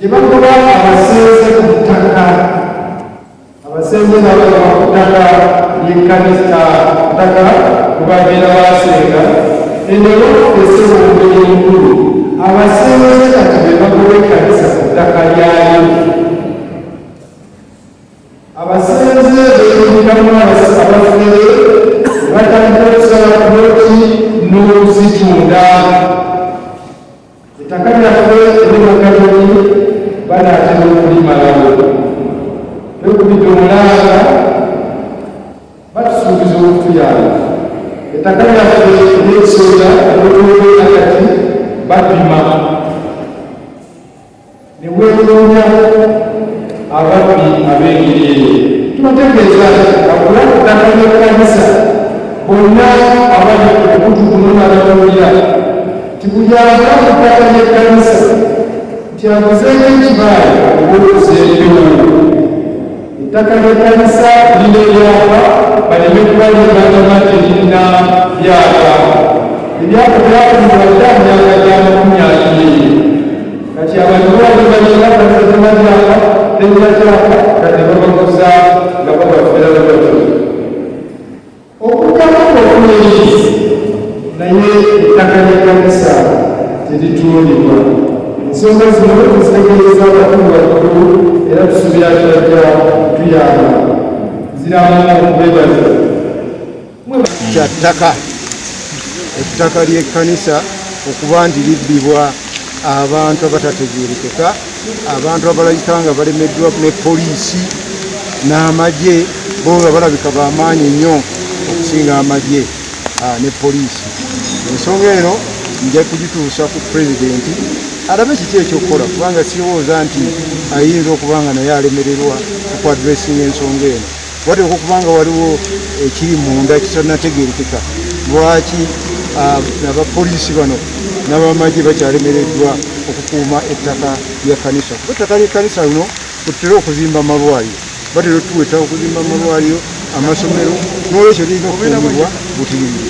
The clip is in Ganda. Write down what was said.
gye bakuba abasenze ku ttaka abasenze nabo ku ttaka ly'ekkanisa ttaka kubabeera basenga enero esebo omubiri omukulu abasenze kati be bakuba ekkanisa ku ttaka lyayo Abasenze beeyungamu abafere batandika okusala buloti n'okuzitunda. Ettaka lyaffe ery'omugattoti banaatera okulimalawo. Twekubidde omulanga batusuubiza okutuyamba. Ettaka lyaffe ery'ekisooda olw'okubeera kati bapima. ne weetoonya ababbi ab'engeri eyo tubategeeza nti akulakutaka n'ekkanisa bonna abali ku mukutu guno n'abatawulira nti buli ava ku ttaka ly'ekkanisa nti aguzeeko ekibaala oba okuzeekewo Ettaka ly'ekkanisa lirina ebyapa baleme kuba lyebagamba nti lirina byapa. Ebyapa byafunibwa dda mu myaka gya makumi abiri. Kati abantu babadde balina kkanisa zirina byapa terina kyapa kati ne babaguza nga babafera bwe batyo. Okuddamu okw'omuyizi naye ettaka ly'ekkanisa teritundibwa. Ensonga zino tuzitegeeza abakulu bakulu era tusuubira nti bajja kutuyamba. Nziramu okubeebaza. Kya ttaka ettaka ly'ekkanisa okuba nti libbibwa abantu abatategeerekeka. abantu abalabika nga balemeddwa ne poliisi n'amagye bo nga balabika bamaanyi nnyo okusinga amagye ah, ne poliisi ensonga eno nja kugituusa ku pulezidenti alabe kiki ekyokukola kubanga sirowooza nti ayinza okuba nga naye alemererwa okuadressinga ensonga eno wateekwa okuba nga waliwo ekiri munda kitanategerekeka lwaki ah, abapoliisi bano n'abamagye bakyalemereddwa okukuuma ettaka lya kanisa kuba ettaka ly'ekkanisa luno kututera okuzimba amalwaliro batera otuwa ettaka okuzimba amalwaliro amasomero n'olwekyo lirina okukuumibwa butiribiri